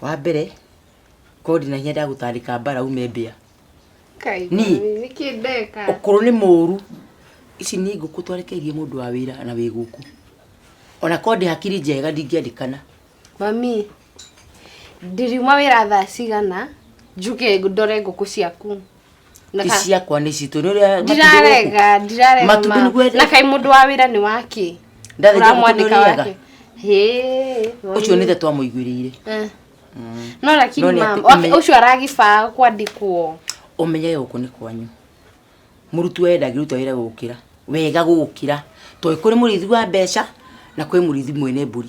wa mbere kondi na hinya ndagũtandĩka mbara ume mbĩa Kai, Ni. mami, nĩkĩ ndeka? ũkũrũ nĩ mũru ici nĩ ngũkũ twarekeirie mũndũ wa wĩra na wĩ gũkũ ona kondi hakiri njega ndingĩandĩkana Mami, ndiriuma wĩra thaa cigana, njuke ndore ngũkũ ciaku. Na ka- iciakwa nä citå nä å rä a ndirarega ndirarega Matumbĩ ma- nĩguo ende- na kai mũndå wa wĩra nĩ wake Ndarĩ njagũ ũramwandĩka kũnyũrĩaga? wake Hĩ, å cio nä the twamå iguä rä ire Eh. no lakini No nĩ mam atĩ okay, ũmenye- ũcio aragĩbaa kwandĩkwo å menyage gå kå nä kwanyu må rutwo we ndangä ruta wä ra gå kä ra wega gå kä ra tondå kå rä må rĩithi wa mbeca na kwä må rĩithi mwene mbå ri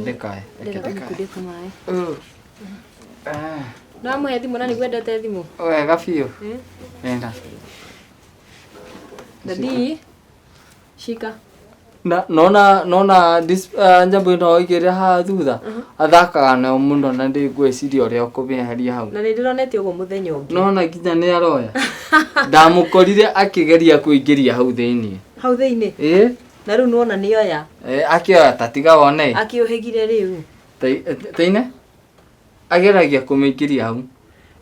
Ndekae, reke ndekae. Ah, Ndamũhe thimũ na nĩguo endete thimũ. Wega biũ. Eh? Nenda. Daddy, shika. Na nona nona dis uh, njambo ino igire ha thutha athakaga na muno na ndi ngwiciria uria ukumiharia hau. Na nĩndĩronete ũguo mũthenya ũngĩ. Nona nginya ni aroya. Ndamukorire akigeria kuingiria hau thiini. Hau thĩinĩ. Eh? na rĩu nĩwona nĩoya Eh, akĩoya ta tiga wone akĩũhĩgire rĩu Tai- taine ageragia kũmĩingĩria hau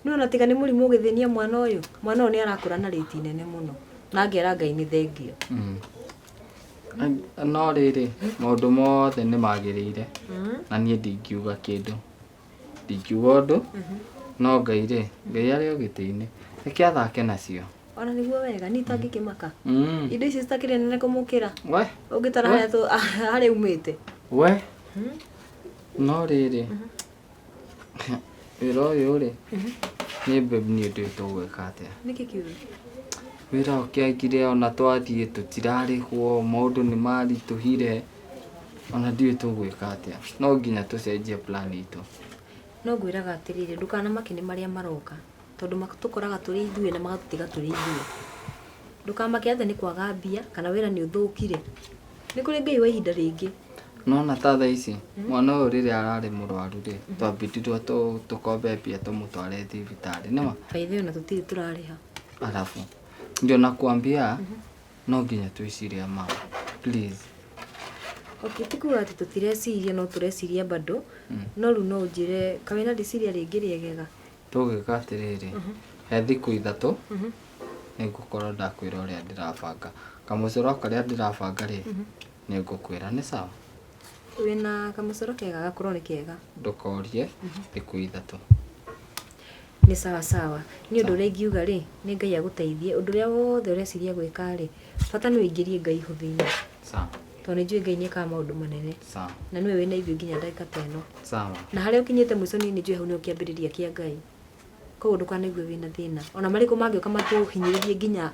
nĩwona tiga nĩ mũrimũ ũgĩthĩnia mwana ũyũ mwana ũyũ nĩ arakũra na rĩti nene mũno na ngera ngai nĩ thengio Mm. Ai- no rĩrĩ maũndũ mothe nĩ magĩrĩire na niĩ ndingiuga kĩndũ ndingiuga ũndũ no ngai rĩ ngai arĩ o gĩtĩ-inĩ reke athake nacio ona nĩguo wega niĩ itangĩkĩmaka Mm, indo ici citakĩrĩ nene kũmũkĩra we ũngĩtara harĩa tũ- harĩa umĩte we no rĩrĩ wĩra ũyũ rĩ nĩ mbebu nĩ ũndũ tũgwĩka atĩa nĩkĩ kiugo wĩra ũkĩagire ona twathiĩ tũtirarĩhwo maũndũ nĩ maritũhire Ona ndiũĩ tũgwĩka atĩa. No nginya tũcenjie plan itũ. No ngwĩraga atĩrĩrĩ, ndũkanamake nĩ marĩa maroka. Tondũ matũkoraga tũrĩ ithuĩ na magatũtiga tũrĩ ithuĩ. Ndũkamake atĩ nĩ kwaga mbia, kana wĩra nĩ ũthũkire. Nĩ kũrĩ Ngai wa ihinda rĩngĩ. Nĩwona ta thaa ici, mwana ũyũ rĩrĩa ararĩ mũrwaru rĩ, twambindrirwo tũ- tũkombe mbia tũmũtware thibitarĩ. Nĩma? By the way ona tũtirĩ tũrarĩha. Alafu, ndio nakuambia, No nginya twĩciria ma. Please. Okay, ti kuga atĩ tũtireciria no tũreciria bado. Mm. No rĩu no ũnjĩre ka wĩna rĩciria rĩngĩ rĩegega. Tũgwĩka atĩrĩrĩ, mhm. he thikũ ithatũ mhm. nĩ ngũkorwo ndakwĩra ũrĩa ndĩrabanga. Kamũcoro karĩa ndĩrabanga rĩ, mhm. nĩ ngũkwĩra nĩ sawa. Wĩna kamũcoro kega gakorwo nĩ kega. Ndũkorie thikũ ithatũ. Nĩ sawa sawa. Niĩ ũndũ ũrĩa ingiuga rĩ, nĩ Ngai agũteithie. Ũndũ ũrĩa wothe ũreciria gwĩka rĩ, bata nĩ ũingĩrie Ngai ho thĩinĩ. Sawa. Tondũ nĩ njũĩ Ngai nĩ ekaga maũndũ manene. Sawa. Na nĩwe wĩna ithuĩ nginya ndagĩka ta ĩno. Sawa. Na harĩa ũkinyĩte mũico niĩ nĩ njũĩ hau nĩho kĩambĩrĩria kĩa Ngai. Koguo ndũkanaigue wĩna thĩna. Ona marĩkũ mangĩũka matũhinyĩrĩrie nginya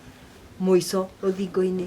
mũico rũthingo-inĩ.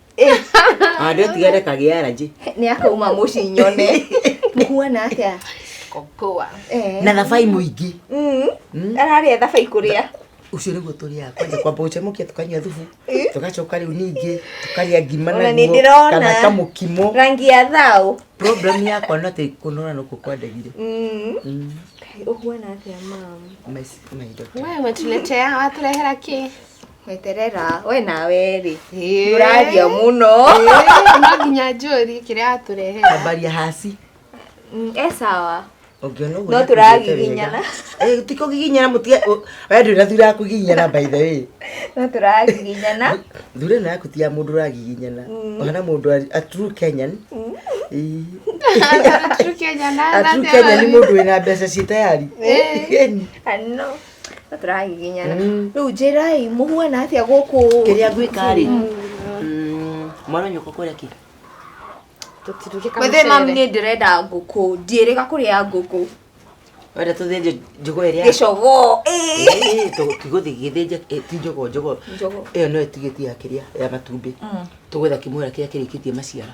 Ande tigere kagĩa allergy. nä akauma må ci nyone må huana atä a Kokoa. Na thabai mũingĩ. Mm. ararä a thabai kå rä a Ũcio nĩguo tũrĩaga kwanja kwamba gũcemũkia tũkanyua thubu tũgacoka rĩu ningĩ tũkarĩa ngima Ona nĩ naguo ndĩrona. kana kamũkimo. rangi ya thaå Problem yakwa no atĩ kũnora nũkũ kwandagire. Mm. å huana atä a mam My- my daughter. Wewe umetuletea waturehera ki? Mweterera, we nawe rĩ. Ĩĩ. Ũraria mũno. Ĩĩ, no nginya njũri kĩrĩa atũrehera Tambaria haci. Mm, E sawa. Ũngĩona ũguo No nĩakũiguĩte tũragiginyana. wega. Eh, ti kũgiginyana mũtige. ũ- We ndũrĩ na thura ya kũgiginyana by the way. No tũragiginyana. Thura ĩno yaku ti ya mũndũ ũragiginyana. Ũhana mũndũ a- a true Kenyan. Ĩĩ. Atũrĩ Kenya na A true Kenyan nĩ mũndũ wĩna mbeca ciĩ tayari. Ĩĩ. Ĩĩ. Ano. na tũrahihinyana Mm. rĩu njĩrai mũhuana atĩa gũkũ kĩrĩa ngwĩka rĩ Mm, mwana nyũkwa kũrĩa kĩ tũtirugĩka wethe mami nĩ ndĩrenda ngũkũ ndiĩrĩga kũrĩa ngũkũ wenda tũthĩnje njũgũ ĩrĩa gĩcogo ĩĩ. Ĩĩ, tũ- tũgũthiĩ gĩthĩnja ĩ, ti njũgũ njũgũ Njũgũ. ĩyo nĩyo ĩtigĩtie ya kĩrĩa ya matumbĩ Mm. tũgwetha kĩmwera kĩrĩa kĩrĩkĩtie maciara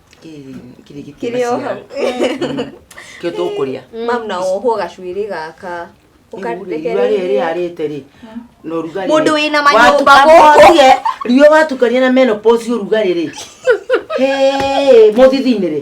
kĩrĩ o hau kĩo tũkũrĩa mam na wohwo gacuĩrĩ gaka rĩarĩte-rĩ na ũrugarĩ Mũndũ wĩna manyũmba gũkũ. riũa watukania na menopause ũrugarĩ-rĩ mũthithi-inĩ-rĩ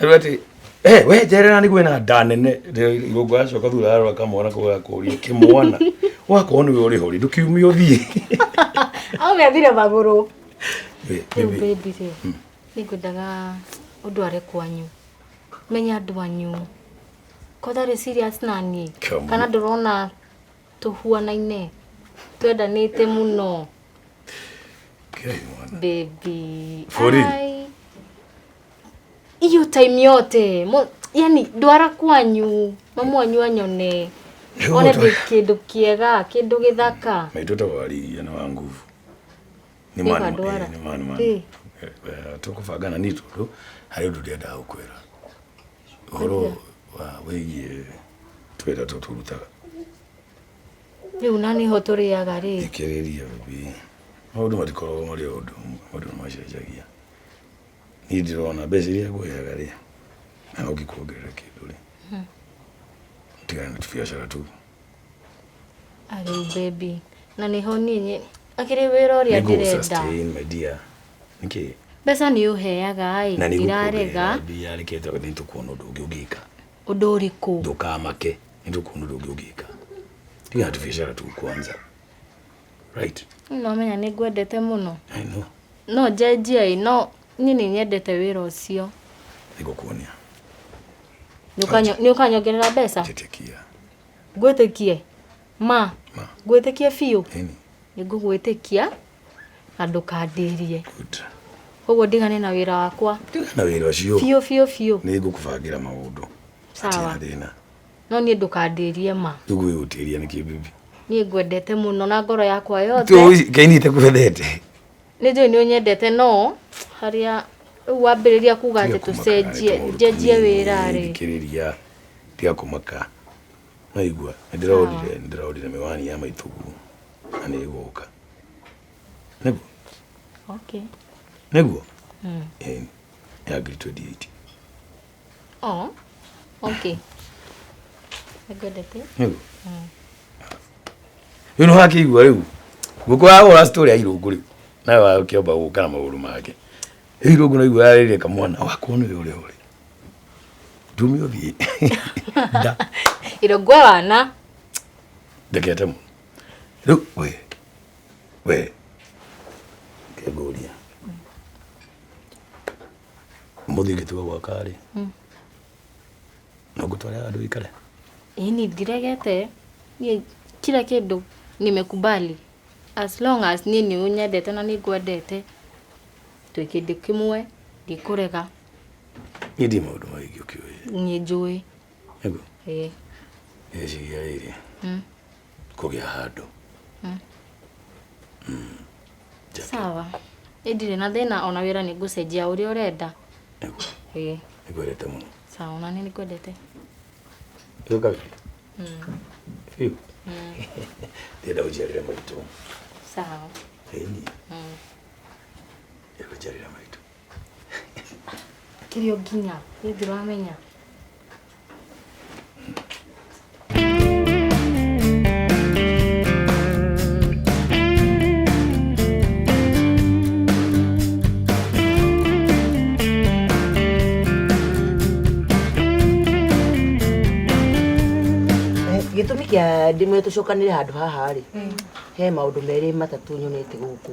rĩu atĩ "Eh, we njerera nĩguo ena nda nene Rĩu igũngũ acoka thutha arora kamwana kau gakũria kĩmwana wakorwo nĩwe ũrĩ hori ndũkiumie ũthiĩ aũgethire magũrũ Wĩ, rĩu wĩ, baby rĩ nĩ ngwendaga ũndũ are kwanyu menya andũ anyu ko tarĩ serious na niĩ Come on. kana ndũrona tũhuanaine twendanĩte mũno kĩrai mwana baby Bũri. Ai. hiyo time yote mo, yani ndwara kwanyu mamu wanyu anyone Rĩu one mũtwe- ndĩ kĩndũ kĩega kĩndũ gĩthaka maitũ ta wariria nĩ wa nguvu nĩ Nĩ Pandora. manuma Eh. tũkũbanga na nitũ tũ harĩ ũndũ ndĩendaga gũkwĩra ũhoro wa wĩgiĩ twĩra tũ tũrutaga rĩu na nĩho tũrĩaga rĩ thikĩrĩria bi maũndũ matikoragwo marĩ o ũndũ ũmwe maũndũ nĩ macenjagia niĩ ndirona mbeca iria ngũheaga rĩ na no ngĩkuongerera kĩndũ rĩ tigana na tubiacara tũu arĩu baby na nĩho niĩ akĩrĩ wĩra ũrĩa ndĩrenda nĩngũgũsustain my dear nĩkĩ mbeca nĩ ũheaga ĩ na ndirarega nĩgũkuongerera mbia reke nĩ tũkuona ũndũ ũngĩ ũngĩka ũndũ ũrĩkũ ndũkamake nĩ tũkuona ũndũ ũngĩ ũngĩka tigana na tubiacara tũu kwanza right no menya nĩ ngwendete mũno i know no njenjia ĩ no niĩ nĩ nyendete wĩra ũcio nĩngũkuonia nĩ ũkanyongerera mbeca njĩtĩkia ngwĩtĩkie ma Ma. ngwĩtĩkie biũ ĩni nĩ ngũgwĩtĩkia na ndũkandĩrie good koguo ndigane na wĩra wakwa na wĩra ũcio biũ biũ biũ nĩngũkũbangĩra maũndũ Sawa. Hatirĩ na thĩna no niĩ ndũkandĩrie ma tũgwĩgũtĩria nĩkĩ bibi niĩ ngwendete mũno na ngoro yakwa yothe kaini itakwendete nĩ njũĩ nĩ ũnyendete no harĩa rĩu wambĩrĩria kuga atĩ tũcenjie njenjie wĩra rĩ thikĩrĩria tiga kũmaka naigua nĩndĩrorire nĩndĩrorire mĩwani ya maitũguo na nĩ ĩgũka nĩguo okay nĩguo Mm. Ĩĩ, ya ngiri 28 Oh, okay. Nĩngwendete. Rĩu. Rĩu nĩwakĩigua rĩu. Ngũkũ ya hũra story ya irũngũ rĩu. Nawe wa ũkĩamba gũka na magũrũ make. Rĩu irũngũ naigua yarĩrĩria kamwana wakwa nĩ ũrĩa ũrĩ. Ndumi ũthiĩ. Nda. Irũngũ ya wana. Ndekete mũno. Rĩu we. We. Ngũria. Mũthĩ ngĩtua gwaka rĩ, hmm. no ngũtware andũ ikare? Ini ndiregete, kila kĩndũ nimekubali as long as niĩ nĩ ũnyendete na nĩ ngwendete twĩ kĩndũ kĩmwe ndikũrega. Niĩ ndi maũndũ maingĩ ũkĩũĩ. Niĩ njũĩ. Nĩguo? Ĩĩ. Nĩciria rĩrĩ. Hmm. kũgĩa handũ Mm. Mm. Jackie, sawa ĩ ndirĩ na thĩna ona wĩra nĩ ngũcenjia ũrĩa ũrenda nĩguo, ĩ nĩngwendete mũno sawa ona nĩ nĩkwendete rĩu kabi Mm. biũ Mm. ndĩrenda ũnjiarĩre maitũ sawa ĩni Mm. ĩkũnjiarĩra maitũ kĩrĩa ũnginya niĩ ndũramenya Eh, gĩtũmi kĩa ndĩmwe tũcokanĩre handũ haha rĩ he maũndũ merĩ matatũ nyonete gũkũ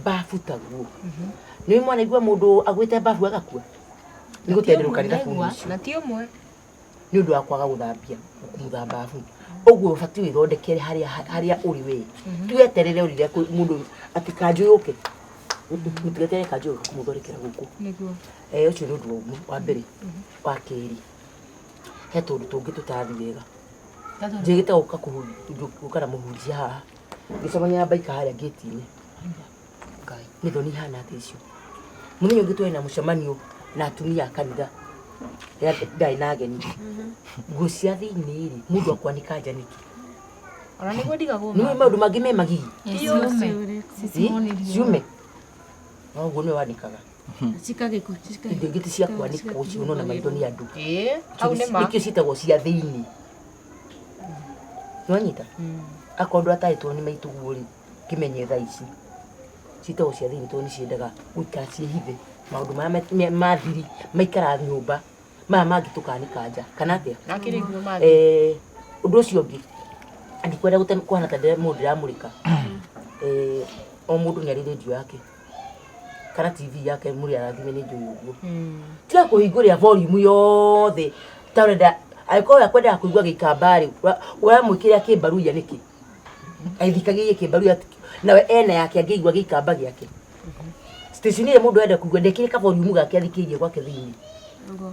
mbabu taguo nä mwanaigua må ndå agwä te mbabu agakua nä gå tenderå rä Naigua, gakuucio na ti ũmwe nä å ndå wa kwaga gå thambia kumutha mbabu å guo å batiä wä thondekere harä a å rä we tueterere å rire må ndå atä kanjå yå ke må tigetere kanjå yå ke kå må thondekera gå kå nĩguo Eh, ũcio nĩ ũndũ wa ũmwe wa mbere wa kerĩ he tũndũ tũngĩ tũtathi wega njĩgĩte gũka kũhunjia gũka na mũhunjia haha ngĩcemania na mbaika harĩa ngĩti-inĩ ngai nĩ thoni ihana atĩa icio mũthenya ũngĩ twarĩ na mũcemanio na atumia a kanitha ya ndarĩ na ageni nguo cia thĩinĩ rĩ mũndũ akwanĩka nja nĩkĩ ona nĩguo ndigagwo nĩ maũndũ mangĩ me magigi ciume no ũguo nĩwe wanĩkaga cikagĩkwo indo ingĩ ti cia kwanĩkwo ciuno na maitho nĩ andũ hau nĩ ma nĩkĩo ciĩtagwo cia thĩinĩ nĩwanyita akorwo ndwataĩtwo nĩ maitũguo rĩ kĩmenye thaa ici citagwo cia thĩinĩ tondũ nĩciendaga gũikara ciĩhithe maũndũ marĩa ma- me- ma thiri maikara nyũmba maya mangĩ tũkanĩka nja kana atĩa Nakĩrĩguo mangĩ. Eh, ũndũ ũcio ũngĩ ndikwenda gũte- kũhana ta ndĩra- mũndũ ndĩramũrĩka Eh, o mũndũ nĩarĩ rendio yake kana tv yake muri arathime ni njui uguo tiga kuhinguria volume yothe ta urenda angĩkorwo ya kwendaga kũigua gĩikamba rĩ ũramwĩkĩrĩra kĩmbaru ya nĩkĩ aithikagia kĩmbaru ya nawe ena yake angĩigua gĩikamba gĩake station ĩrĩa mũndũ enda kũigua ndekĩrĩ ka volume gake athikĩirie gwake thĩinĩ Nĩguo.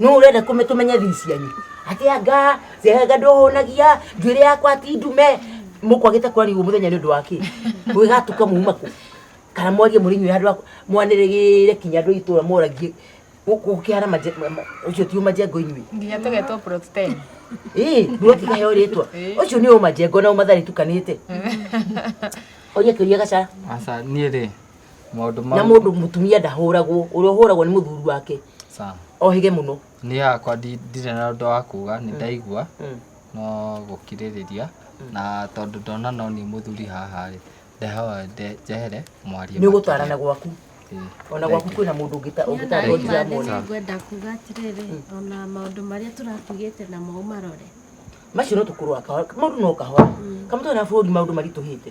nũ ũrenda kũme- tũmenye thiri cianyu akĩanga ciaga ndũhũnagia njuĩrĩ yakwa ti ndume mũkwagĩte kwarigwo mũthenya nĩ ũndũ wa kĩ gwĩgatuka muuma kũ kana mwarie mũrĩnyuĩ handũ haku mwanĩrĩgĩre kinya andũ a itũũra moragie gũkĩhana ũcio ti ũmajengo inyuĩ nginya tũgetwo plot 10 ĩĩ nduroti kaheo rĩtwa Ĩĩ. ũcio nĩ ũmajengo na ũmatharĩ tukanĩte oria kĩũria gacara Asa niĩ rĩ maũndũ na mau mũndũ mũtumia ndahũragwo ũrĩa ũhũragwo nĩ mũthuri wake Sam, ohĩge mũno niĩ hakwa ndi- ndirĩ na ũndũ wa kuga nĩ ndaigua Mm. no gũkirĩrĩria na tondũ ndona no niĩ mũthuri haha rĩ ndehoe nde- njehere mwarie nĩ ũgũtarana gwaku makĩria. ona gwaku kwĩna mũndũ ũngĩta- ũngĩtarwo Nani ndiramwona Mathiri ngwenda kuga atĩrĩrĩ ona maũndũ marĩa tũratugĩte na mau marore macio no tũkũrwa kahora maũndũ no kahora kamũtwe na bũrũri maũndũ maritũhĩte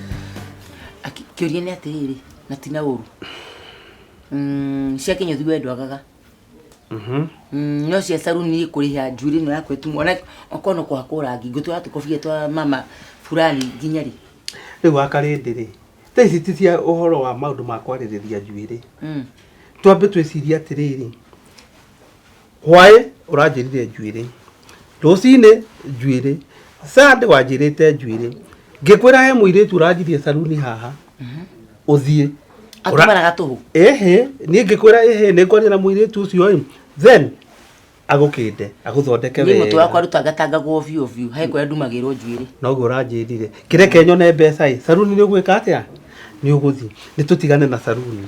Kĩũria nĩ atĩrĩrĩ, na ti na ũru. Mm, cia kĩnyũthi we ndwagaga. Mhm. Mm, no cia saruni kũrĩha njuĩrĩ ĩno yakwa ĩtumwo. Ona okorwo no kũhakwo rangi, ngũtwara tũkobia twa mama fulani nginya rĩ? Rĩu wa karĩndĩ rĩ, thaa ici ti cia ũhoro wa maũndũ ma kwarĩrĩria njuĩrĩ. Mm. Twambe twĩcirie atĩrĩrĩ, hwaĩ ũranjĩrire njuĩrĩ rũcinĩ njuĩrĩ sande wanjĩrĩte njuĩrĩ ngĩkwĩra he mũirĩtu ũranjirie saruni haha ũthiĩ atumanaga tũhũ ĩhĩ niĩ ngĩkwĩra ĩhĩ nĩ ngwaria na mũirĩtu ũcio ĩ then agũkĩnde agũthondeke niĩ mũtwe wakwa wega rutangatangagwo biũ biũ he kũrĩa ndumagĩrwo njuĩrĩ noguo ũranjĩrire kĩreke nyone mbeca ĩ saruni nĩ ũgwĩka atĩa nĩ ũgũthiĩ nĩ tũtigane na saruni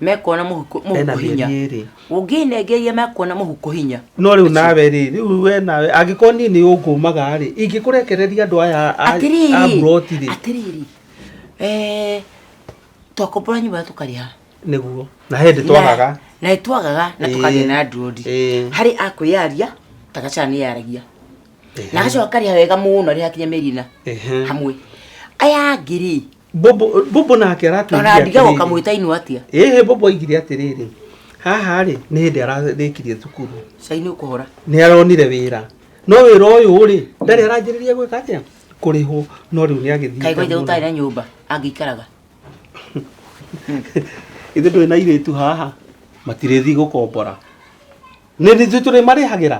mekuona mũhuko ena mũhuko hinya mĩeri ĩrĩ ũngĩnengeria mekuona mũhuko hinya no rĩu nawe rĩ rĩu we nawe angĩkorwo niĩ nĩ ũngũmaga rĩ ingĩkũrekereria andũ aya a- a atĩrĩrĩ buroti rĩ atĩrĩrĩ eh, twakombora nyũmba tũkarĩha nĩguo na hĩndĩ twagaga na nĩ twagaga na Ĩĩ. tũkagĩa na ndurodi Ĩĩ. harĩ akwĩyaria tagacana nĩ yaragia na agacoka akarĩha wega mũno arĩ hakinya mĩeri ĩna Ehe. hamwe aya angĩ rĩ Bobo Bobo nake Ona aratwĩrire ndiga atĩrĩrĩ- ũkamwĩta inua atia. ĩhĩ Bobo aigire atĩrĩrĩ haha rĩ nĩ hĩndĩ ararĩkirie thukuru Cai nĩ ũkũhora. nĩ aronire wĩra no wĩra ũyũ rĩ ndarĩ aranjĩrĩria gwĩka atĩa kũrĩhwo no rĩu nĩ agĩthiĩte Kaigwa ithe mũno. gũtarĩ na nyũmba angĩikaraga. ithe ndũrĩ na irĩtu haha matirĩthi gũkombora nĩ ithuĩ tũrĩmarĩhagĩra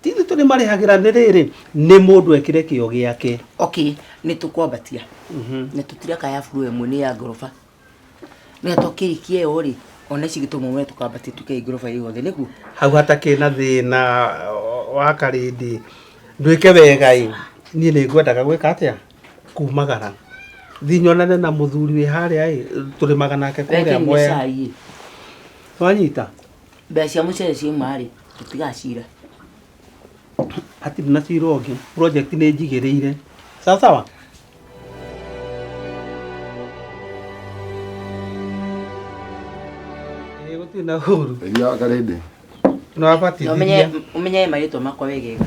ti ithuĩ tũrĩmarĩhagĩra nĩ rĩrĩ nĩ mũndũ ekĩre kĩo gĩake okay nĩ tũkwambatia na tũtiraka ya buru ĩmwe nĩ ya ngoroba nĩ twakĩrĩkia ĩyo rĩ ona ici gĩtũmwo we tũkambatia tuke ngoroba ĩyo yothe nĩguo hau hatakĩ na thĩna o- wa karĩndi nduĩke wega ĩ niĩ nĩ ngwendaga gwĩka atĩa kumagara thiĩ nyonane na mũthuri wĩ harĩa ĩ tũrĩmaga nake kũrĩa Reke nyue mwea cai ĩ. wanyita mbeca cia mũcere ciauma-rĩ tũtigacira hatirĩ na cira ũngĩ project nĩ njigĩrĩire sawa sawa Ĩĩ, gũtirĩ na ũru Iria karĩndĩ. na ũmenye wabatithia ũmenye marĩtwa makwa wegega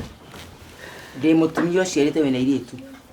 ndĩ mũtumia ũciarĩte wĩna irĩtu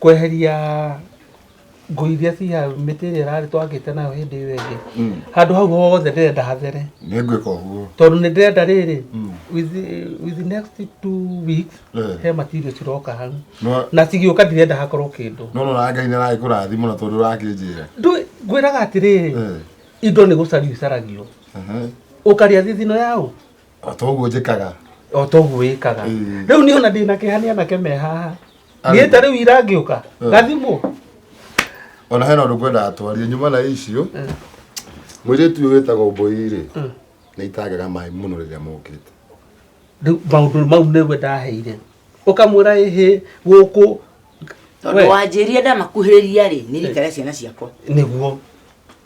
kweheria ngũ iria ci hau mĩtĩ ĩrĩa ĩrarĩ twakĩte nayo hĩndĩ ĩyo ĩngĩ Mm. handũ hau hothe ndĩrenda hathere nĩ ngwĩka ũguo tondũ nĩ ndĩrenda rĩrĩ Mm. with the- with the next two weeks Eh. he material ciroka hau No- na cigĩũka ndirenda hakorwo kĩndũ no no na ngai nĩ aragĩkũrathima na tondũ ũrakĩnjĩra Ndũ- ngwĩraga atĩrĩrĩ Eh, indo nĩ gũcario icaragio aha. ũkarĩa thithino yaũ o ta ũguo njĩkaga o ta ũguo wĩkaga Ĩĩ. rĩu niĩ ona ndĩ na kĩha nĩ anake me haha Arĩ. niĩ ta rĩu ira ngĩũka Ĩĩ. gathimũ ona hena ũndũ ngwendaga twarie nyuma na icio mwĩrĩtu ũyũ wĩtagwo mbũi-rĩ nĩ itangega maĩ mũno rĩrĩa mokĩte rĩu maũndũ mau nĩwe ndaheire ũkamwĩra ĩhĩ gũkũ tondå wanjä rire ndamakuhä rä ria rä nä rikare ciana ciakwa nĩguo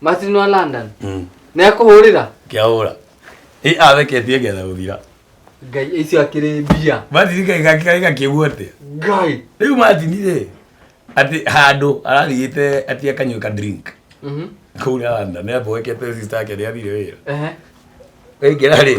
martin wa london Mm. nä akå hå rä ra ngĩahũra ĩ atheketie ngetha gũthira ngai icio akĩrĩ mbia matini gakĩgakĩgua atĩa ngai rĩu matini rĩ atĩ handũ ararigĩte atĩ akanyua ka drink Mhm. kũu randa nĩ amboekete sister yake nĩ athire wĩra Ehe. waingĩra rĩ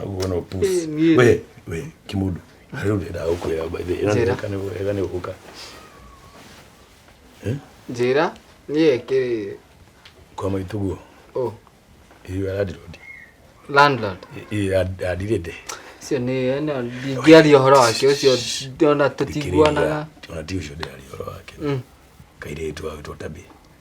Aguo no puss. Eh, niĩ- We, we, kimundu. Rĩu ndendaga gũkwĩra by the way. Ĩno nĩ Njĩra. weka nĩ wega nĩ ũgũka. njĩra niĩ kĩ Kwa maitũ guo. oh, Iyo aradirodi. landlord Iyo adirede. cio nĩ ĩno ndingĩaria ũhoro wake ũcio ndona tũtiguanaga Ona ti ũcio ndĩraria ũhoro wake. Mm. Kairĩtu wagĩtwo tabi.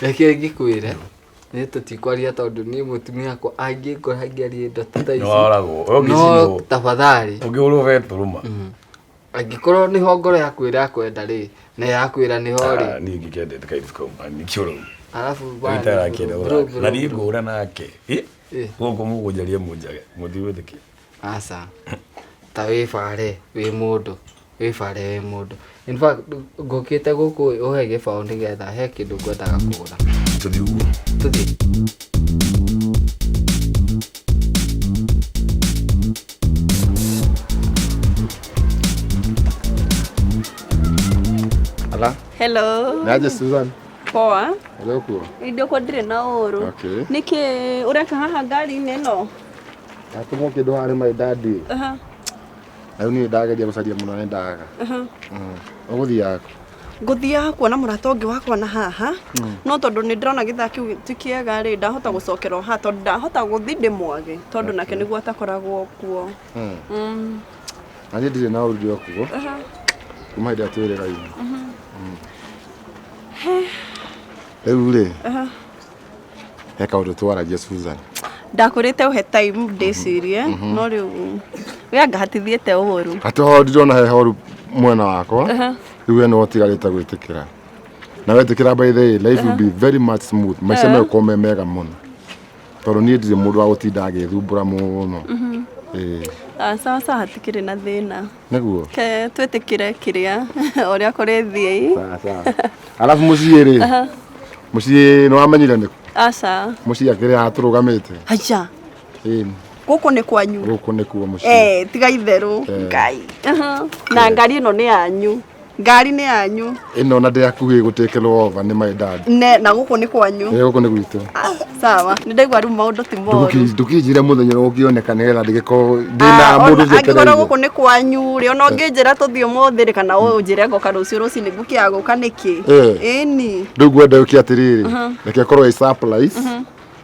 Reke ngĩkwĩre nĩ tũtikwaria tondũ niĩ mũtumia akwa angĩngora ngĩarie indo ta ici nĩwaragwo no ũngĩcinwo tafadhali ũngĩhũrwo betũrũma Mm. angĩkorwo nĩho ngoro yaku ĩrakwenda rĩ na yakwĩra nĩho rĩ niĩ ngĩkendete kairĩtu kau nĩkĩoro arabu bana, bro, bro, na niĩ bro. ngũra nake Ĩ, Eh. gũkũ mũgũnjaria mũnjage mũtiwĩtĩkia aca ta wĩbare wĩ mũndũ wĩbare wĩ mũndũ in fact ngũkĩte gũkũ ũhe gĩbaũ nĩgetha he kĩndũ ngwendaga kũgũra tũthiĩ ũguo tũthiĩ ala hello naje susan poa ũrĩ ũkuo indo kwa ndirĩ na ũũrũ Okay. nĩkĩ ũreka haha ngari-inĩ ĩno Ati muke do hare my daddy. Aha. Ayo ni daga je gusaria muno ni daga. Aha. Uguthi yako. ngũthiaga kuona mũrata ũngĩ wakwa na haha no tondũ nĩ ndĩrona gĩthaa kĩu ti kĩega rĩ ndahota gũcokera o haha tondũ ndahota gũthi ndĩmwage tondũ nake nĩguo atakoragwo kuo Mm. Mm, Na ni ndire na urudi okugo. aha. Kuma hĩndĩ atwĩrĩga ina. Rĩu rĩ, Aha. reka ũndũ twaragia Susan ndakũrĩte ũhe time ndĩcirie no rĩu we anga hatithiĩte ũru atĩ ho ndirona he horu mwena wakwa rĩu we nĩ ũtigarĩte gwĩtĩkĩra na wetĩkĩra by the way, life will be very much smooth maica megũkorwo me mega mũno tondũ niĩ ndirĩ mũndũ wa gũtinda agĩthumbũra mũno Ĩĩ. Ah, sawa sawa hatikĩrĩ na thĩna Nĩguo. Ke twĩtĩkire kĩrĩa ũrĩa kũrĩthiĩ. Sawa sawa. Alafu mũciĩ rĩ. Aha. Mũciĩ nĩ wamenyire nĩ Aca. mũciĩ akĩrĩ haha tũrũgamĩte. Aca. Ĩĩ. Gũkũ nĩ kwanyu. Gũkũ nĩkuo mũciĩ. Eh, tiga itherũ. Eh. Ngai. Aha. Na ngari ĩno nĩ yanyu. ngari nĩ yanyu ĩno na ndĩrakuhĩ gũtekelwo ova nĩ my dad ne na gũkũ nĩ kwanyu ĩ gũkũ nĩ gwitũ Ah, sawa nĩ ndaigua rĩu maũndũ ti moru Ndũki- ndũkinjire mũthenya ũrĩa ũngĩoneka nĩgetha ndĩgĩkorwo ndĩna Ah, mũndũ ona angĩkorwo njĩtereire gũkũ nĩ kwanyu rĩ ona ũngĩnjĩra tũthiĩ ũmũthĩ rĩ kana ũnjĩre ngoka rũciũ rũcinĩ ngũkĩaga gũka nĩkĩ Eh. ĩni rĩu ngwenda ũke atĩrĩrĩ reke korwo ĩ surprise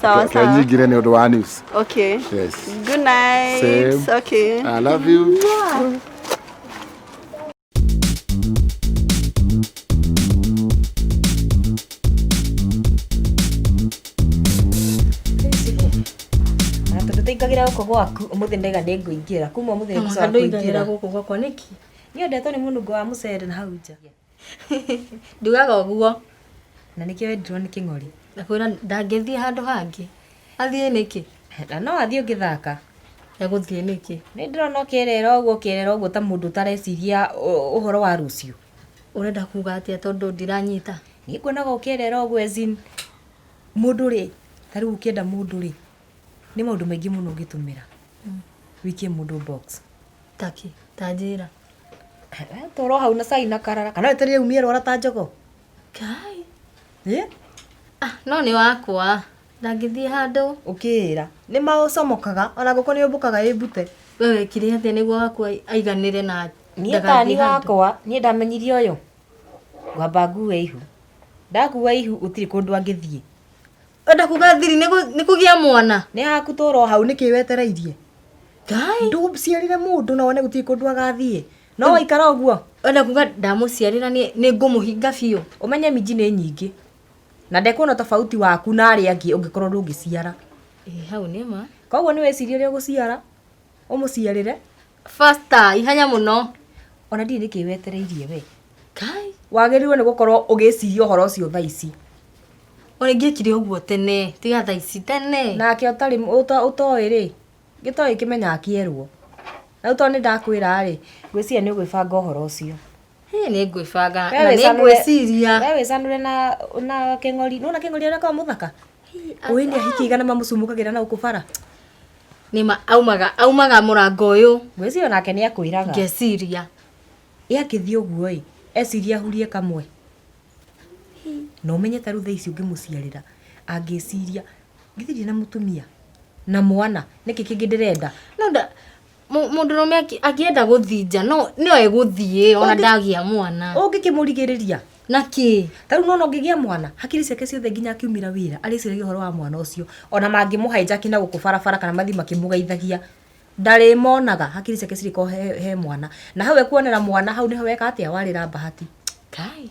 Sawa Can sawa. you give any other one news? Okay. Yes. Good night. Same. Okay. I love you. tũtĩingagĩra gũkũ gwaku ũmũthĩ ndaiga nĩ ngũingĩra kuma ũmũthĩ nĩ ngũcoka kũingĩra gũkũ gwakwa nĩki nĩ ũndetwo nĩ mũnungo wa mũcere na hau nja Ndugaga ũguo. Na nĩkĩo wendirwo nĩ kĩng'ori. Ndakwĩra ndangĩthiĩ handũ hangĩ. Athiĩ nĩkĩ? Na no athiĩ ũngĩthaka. Egũthiĩ nĩkĩ? Nĩ ndĩrona ũkĩrĩra ũguo ũkĩrĩra ũguo ta mũndũ ũtareciria ũhoro wa rũciũ. Ũrenda kuga atĩa tondũ ndiranyita? Niĩ nguonaga ũkĩrĩra ũguo as in mũndũ rĩ, ta rĩu ũkĩenda mũndũ rĩ, nĩ maũndũ maingĩ mũno ũngĩtũmĩra wĩikie mũndũ box. Taki, ta njĩra. Toro hau na cai na karara. Kana wetereire umie rwara ta njogo. Kai. Ĩ? Ah, no nĩ wakwa. Ndangĩthiĩ handũ. Ũkĩĩra. Nĩ maũcomokaga, ona ngũkũ nĩ yũmbũkaga ĩmbute. We wekire atĩa nĩguo wakwa aiganĩre na Niĩ tani ndagathiĩ handũ? wakwa, niĩ ndamenyire ũyũ. Ngwamba ngue ihu. Ndakua ihu, gũtirĩ kũndũ angĩthiĩ. Wenda kuga thiri nĩ kũ- nĩ kũgĩa mwana nĩ haku tũra o hau nĩkĩ wetereirie ngai ndũciarire mũndũ na wone gũtirĩ kũndũ agathiĩ no waikara ũguo wenda kuga ndamũciarĩra nĩ nĩ ngũmũhinga biũ ũmenye minji nĩ nyingĩ na ndekuona tofauti waku na arĩa angĩ ũngĩkorwo ndũngĩciara Ĩ, hau nĩ ma koguo nĩ wĩcirie ũrĩa ũgũciara ũmũciarĩre fasta ihenya mũno ona ndirĩ nĩkĩ wetereirie we kai wagĩrĩirwo nĩ gũkorwo ũgĩciria ũhoro ũcio thaa ici ona ingĩkire ũguo tene tiga thaa ici tene nake ũtarĩ ũta- ũtoĩ rĩ gĩtoĩ kĩmenyaga kĩerwo rĩu tondũ nĩ ndakwĩra rĩ ngwĩciria nĩ ũgwĩbanga ũhoro ũcio Hĩ, nĩ ngwĩbanga We na nĩ wĩcanũre- ngwĩciria we wĩcanũre na na kĩng'ori nĩwona kĩng'ori ũrĩa koragwo mũthaka Ũĩ nĩ ahiki igana mamũcumũkagĩra na gũkũ bara. Nĩ ma aumaga aumaga mũrango ũyũ. Ngwĩciria onake nĩ akwĩraga. Ngeciria. Ĩ akĩthiĩ ũguo ĩ, eciria ahurie kamwe. Na ũmenye ta rĩu thaa ici ũngĩmũciarĩra, angĩciria, githĩ ndirĩ na mũtumia, na mwana, nĩkĩ kĩngĩ ndĩrenda? No nda Mũ- mũndũrũme aki- angĩenda gũthinja no no egũthiĩ ona Ũngĩ- ndagĩa mwana ũngĩkĩmũrigĩrĩria na kĩ ta rĩu nona ũngĩgĩa mwana hakiri ciake ciothe nginya akiumĩra wĩra arĩciragia ũhoro wa mwana ũcio ona mangĩmũhainja akina gũkũ barabara kana mathiĩ makĩmũgeithagia ndarĩmonaga hakiri ciake cirĩkorwo he, he mwana na hau ekuonera mwana hau nĩho weka atĩa warĩra bahati kai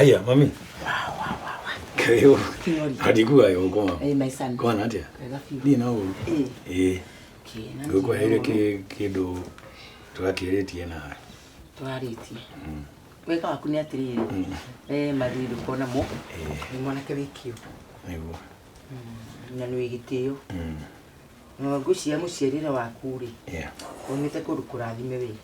Aya, mami. Kayo. Hadikuwa yo ngoma. Eh, my son. Kwa nati. Ni na uru. Eh. Guko hele ke kido twakirĩtie na twarĩtie mm. wega waku nĩ atĩrĩrĩ mm. e mathiri ndũkona mo eh. nĩ mwanake wĩ kĩo nĩguo mm, na nĩ wĩ gĩtĩo ngwĩciria mũciarĩre waku rĩ umĩte kũndũ kũrathime wĩ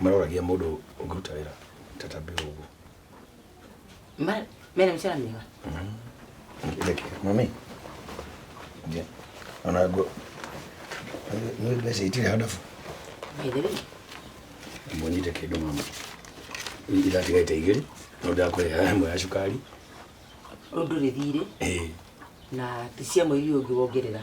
maroragia mũndũ ũngĩruta wĩra ta ta mbĩũ ũguo ma mena mĩcara mĩega Ndekera, mami Nge- ona ngo nĩ mbeca itirĩ handabu maithirĩ mwonyite kĩndũ mama iratigaite igĩrĩ no ndakũrĩha ĩmwe ya cukari ũndũ rĩthirĩ ĩĩ na ti cia mweri ũyũ ũngĩ wongerera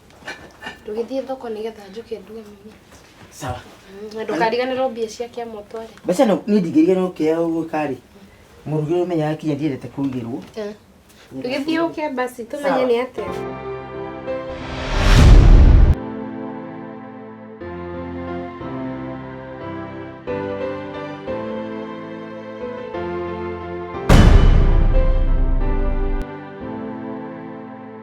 Ndũgĩthiĩ thoko nĩgetha njũke nduge mami. Sawa. Mm, na ndũkariganĩrwo mbia cia kĩama ũtware. Mbeca no niĩ ndingĩriganĩrwo kĩa ũguo karĩ. Mũrugĩrwo menya akinya ndiendete kũrugĩrwo. Eh. Ndũgĩthiĩ ũke basi tũmenye nĩ atĩa.